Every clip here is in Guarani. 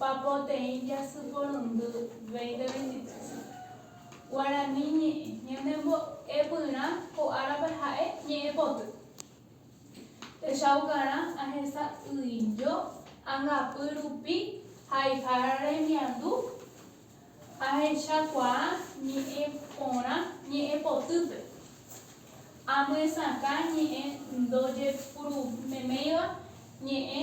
Papoteĩ jasy porundy 2023 Guarani ñe'ẽ Ñanembo'epyrã ko árape ha'e ñe'ẽpoty Techaukarã ahesa'ỹijo angapy rupi haihára remiandu Ahechakuaa ñe'ẽ porã ñe'ẽpotýpe Amyesakã ñe'ẽ ndojepurumeméiva ñe'ẽ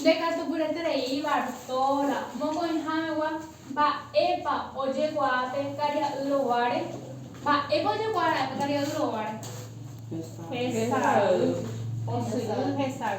Ndekatupyreterei Bartóla mokõihamegua mba'épa ojekuaa pe karia'y roguáre. Mba'épa ojekuaa ra'e pe karia'y roguáre? Hesay. Posyry hesay.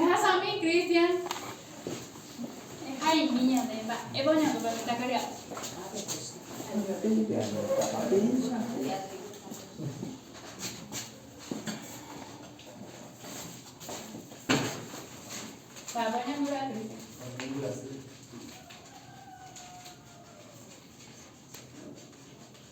Ehasami Cristian ehaimi ñande mba'épa oñandúva mitã kariápe.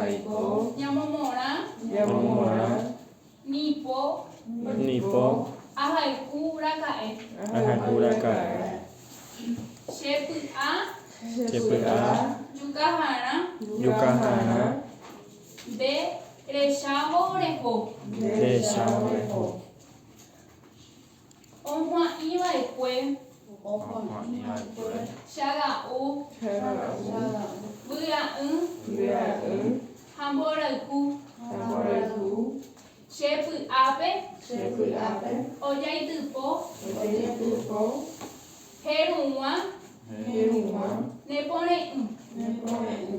Aiko. Ñamomorã. Ñamomorã. Nipo. Nipo. Ahayhu raka'e. Ahayhu raka'e. Chepy'a. Chepy'a. Jukaharã. Jukaharã. Nde rechávo reho. Nde rechávo reho. Ohua'ĩva'ekue. Ohua'ĩva'ekue. Chaga'u. Chaga'u. Vy'a'ỹ. Vy'a'ỹ. Ha mborayhu. Ha mborayhu. Che py'ápe. Che py'ápe. Ojaitypo. Ojaitypo. Heru'ũa. Heru'ũa. Nepore'ỹ. Nepore'ỹ.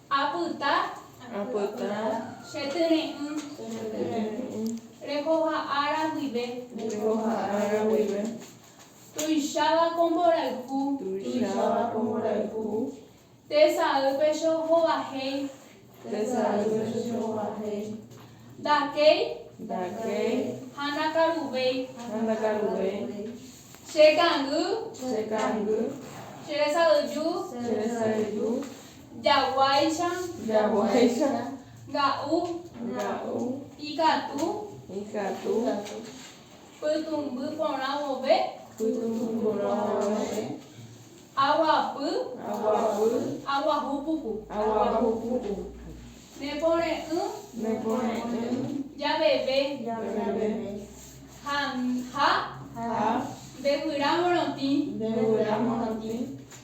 Apyta. Chetyre'ỹ. Rehoha ára guive. Tuicháva ko mborayhu. Tesaýpe che ohovahéi. Ndakéi. Ha ndakaruvéi. Che kangy. Che resayju. Jaguáicha. Jaguáicha. Nga'u. Nga'u. Ikatu. Ikatu. Pytũmby porã vove. Pytũmby porã vove. Aguapy. Aguapy. Aguahu puku. Aguahu puku. Nepore'ỹ. Nepore'ỹ. Javeve. Javeve. Ha. Ha. Ndevyra morotĩ. Ndevyra morotĩ.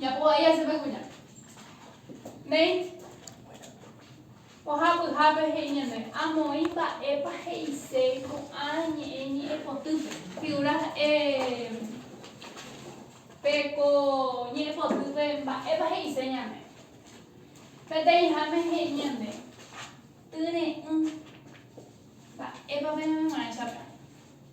Japo vai asẽme kuña. Néi. Pohã pyhápe he'i ñande. Amoĩ mba'épa he'ise ko'ã ñe'ẽ ñe'ẽpotýpe. Figura e. Pe ko ñe'ẽpotýpe mba'épa he'ise ñande. Peteĩháme he'i ñande. Tyre'ỹ. Mba'épa peñanemorãicha pe.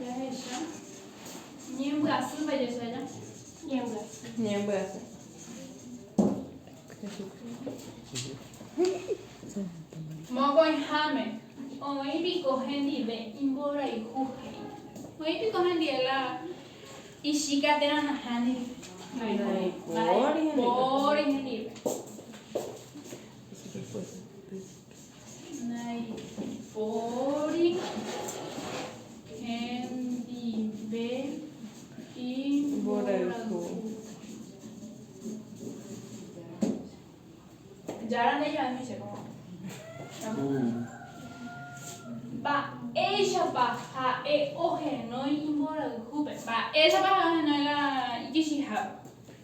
Jahecha. Ñembyasy va jesaja. Ñembyasy. Ñembyasy. Mokõiháme, oĩ piko hendive imborayhu he'i. Oĩ piko hendive la ichíka térã nahániri. Naiporivóri hendive. Naipóri hendive imborayhu. Jára ndaivaíma che papá. Mba'éichapa ha'e ohenói imborayhúpe? Mba'éichapa ha'e ohenói la ikichihápe?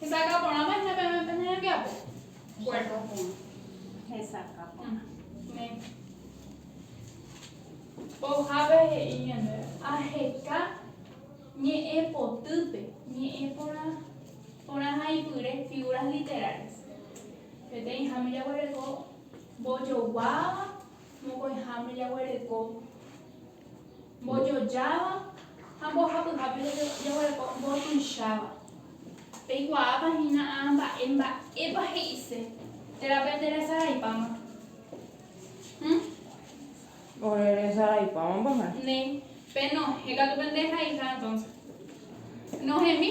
Hesakã porã máquina peve pe ñanembiapo. Bueno. Hesakã porã. Ojape he'i ñande aheka ñe'ẽ potýpe ñe'ẽ porã porã ha ipyre figuras literales. Peteĩháme jaguereko. Mbojoguáva, mokõiháme jaguereko. Mbojojáva ha mbohapyhápe jaguereko mbotuicháva. Peikuaápa hína amba'e mba'épa he'ise térã pende resaraipáma. Hm? Ore resaraipáma mbohẽ. Ne. Pe nohẽ katu pende haiha entonces. Nohemi.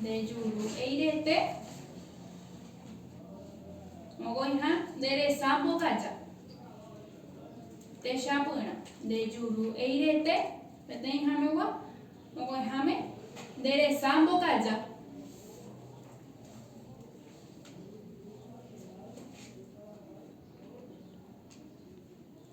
Ndejuru'eirete mokoiha nderesa mbokaja. Techapyrã. Ndejuru'eirete peteĩhamegua mokoiháme nderesa mbokaja.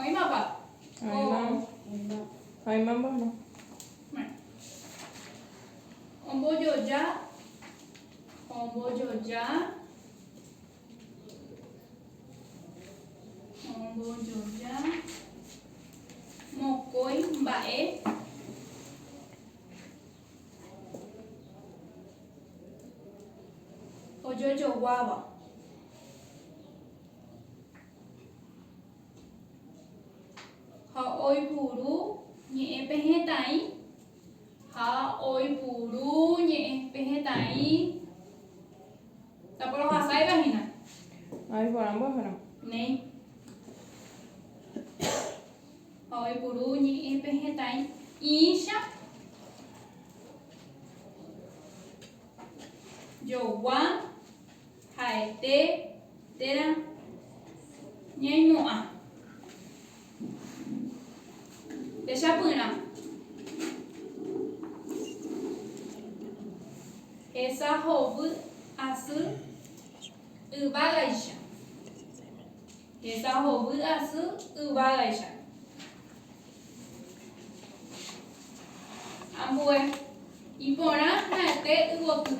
Oĩmapa? Oĩma. Oĩma. Oĩma mba'e. Bueno. Ombojoja. Ombojoja. Ombojoja. Mokõi mba'e. ojojoguáva. Ha oipuru ñe'ẽ pehetãi. Ha oipuru ñe'ẽ pehetãi. Taporohasaiva hína. Hay porã mboyhero. Néi. Ha oipuru ñe'ẽ pe hetãi ĩicha jogua ha'ete térã ñaimo'ã. Techapyrã. Hesa hovy asy yvágaicha. Heta hovy asy yvágaicha. Ambue. Iporã ha'ete yvoty.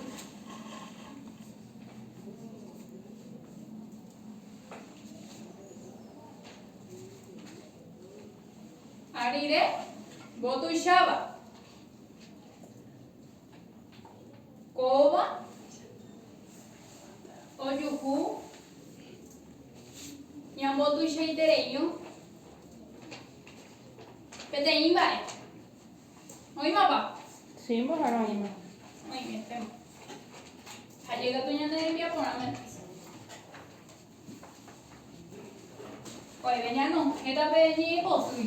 Ha rire mbotuicháva. Kóva ojuhu ñambotuichaiterei'õ peteĩ mba'e. Oĩmapa? Sí, mbohára oĩma. Oĩvéntema. Ha jey katu ñande rembia porã mante. Oĩve ñanohẽta pe ñe'ẽpotýi.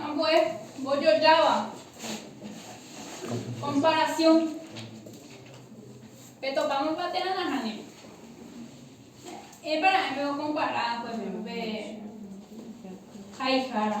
Ambue mbojojáva, komparasión. Petopámapa térã nahániri. Épa ra'e peokompara, por ehémplo, pe haihára.